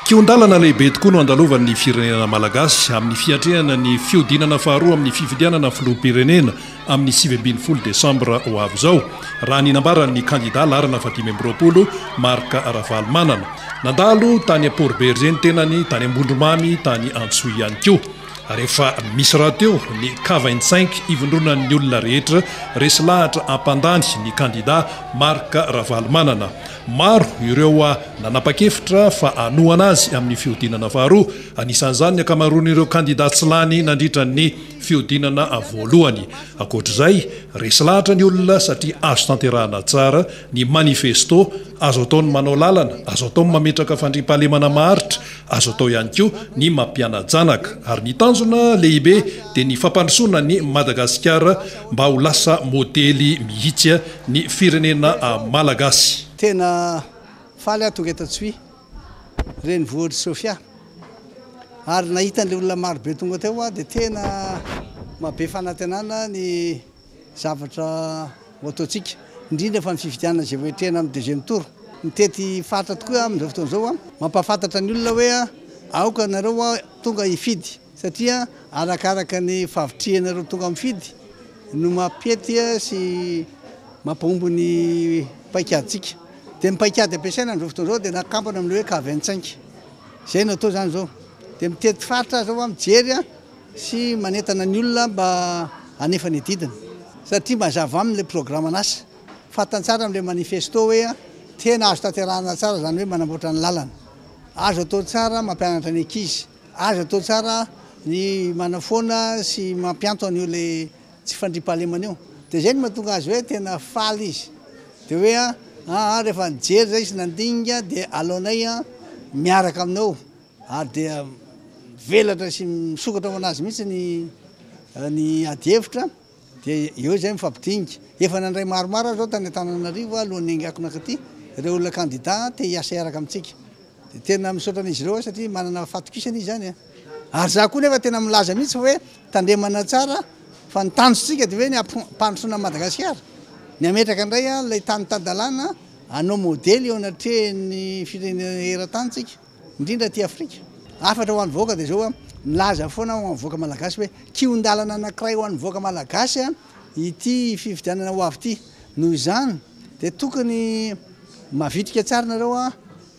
Kihon-dalana lehibe tokoa no andalovan'ny firenena malagasy amin'ny fiatrehana ny fihodinana faharoa amin'ny fifidianana filoham-pirenena amin'ny sivy ambin'ny folo desambra ho avy izao, raha ny nambaran'ny kandidà laharana fahadimy amby roapolo, Marc Ravalomanana. Nandalo tany Amporibergé ny tenany, tany Ambondromamy, tany Antsohihy ihany koa. Ary efa misy rahateo ny kavain-tsainky ivondronan'ny olona rehetra resy lahatra hampandany ny kandidà Marc Ravalomanana. Maro ireo nanapa-kevitra fa hanohana azy amin'ny fihodinana faharoa, anisan'izany ny ankamaroan'ireo kandidà tsy lany nandritra ny fihodinana voalohany. Ankoatra izay, resy lahatra ny olona satria azo tanterahana tsara ny manifesto, azo atao ny manao lalana, azo atao ny mametraka fandriampahalemana maharitra, azo atao ihany koa ny mampiana-janaka. Ary ny tanjona lehibe dia ny fampandrosoana an'i Madagasikara Mba ho lasa modely mihitsy ny firenena malagasy. Tena faly aho tonga eto Antsohihy, renivohitr'i Sofia. Ary nahita an'ilay olona maro be tonga teo aho dia tena maha be fanantenana ny zavatra ho ataontsika, indrindra fa ny fifidianana izay voahitrena amin'ny deuxième tour. Mitety faritra tokoa aho amin'izao fotoana izao, mampahafantatra ny olona hoe aoka ianareo tonga hifidy. satria arakaraka ny favitrihanareo tonga mifidy no mampety sy mampahomby ny paikadintsika dia ny paikady ampiasaina amin'izao fotoana izao dia nakampana amin'ny hoe cave cinq izay no atao izany izao dia mitety faritra aza hoa mijery sy manentana ny olona mba hanefa ny didiny satria mazava aminy ilay programan'asa fantany tsara amin'ilay manifesto hoe tena azo tanterahana tsara izany hoe manamboatra ny lalana azo atao tsara mampianatra ny ankizy Azo atao tsara ny manafoana sy mampianto an'io ilay tsy fandriampahalemana io. Dia izay no mahatonga azy hoe tena faly izy. Dia hoe an, aa rehefa nijery izay izy nandinika dia aleonay miaraka aminao. Ary dia mivelatra sy misokatra ho an'azy mihitsy ny adihevitra. Dia eo izay mifampidinika. Efa nandray maromaro aho izao tany Antananarivo alohan'ny haingako nankaty, ireo olona kandida te hiasa hiaraka amintsika. Dia tena misaotra an'izy ireo aho satria manana fahatokisana izy izany. Ary izaho koa nefa tena milaza mihitsy hoe tandremana tsara fa ny tanjontsika dia hoe ny hampandrosoana an'i Madagasikara. Ny hametraka indray ilay tany tan-dalàna hanao modely eo anatrehan'ny firenena eran-tany isika. indrindra aty Afrika. Hafatra ho an'ny vahoaka dia izao, milaza foana aho ho an'ny vahoaka malagasy hoe kihon-dalana anankiray ho an'ny vahoaka malagasy ity fifidianana ho avy ity. Noho izany dia tokony mavitrika tsara nareo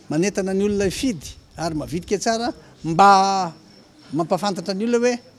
manentana ny olona hifidy ary mavitrika tsara mba mampafantatra ny olona hoe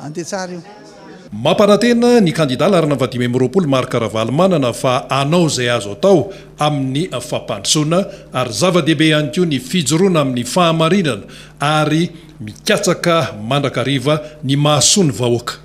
Andeha tsara io. Mampanantena ny kandida laharana dimy amby roapolo Marc Ravalomanana fa hanao izay azo atao amin'ny fampandrosoana ary zava-dehibe ihany koa ny fijoroana amin'ny fahamarinana ary mikatsaka mandrakariva ny mahasoa ny vahoaka.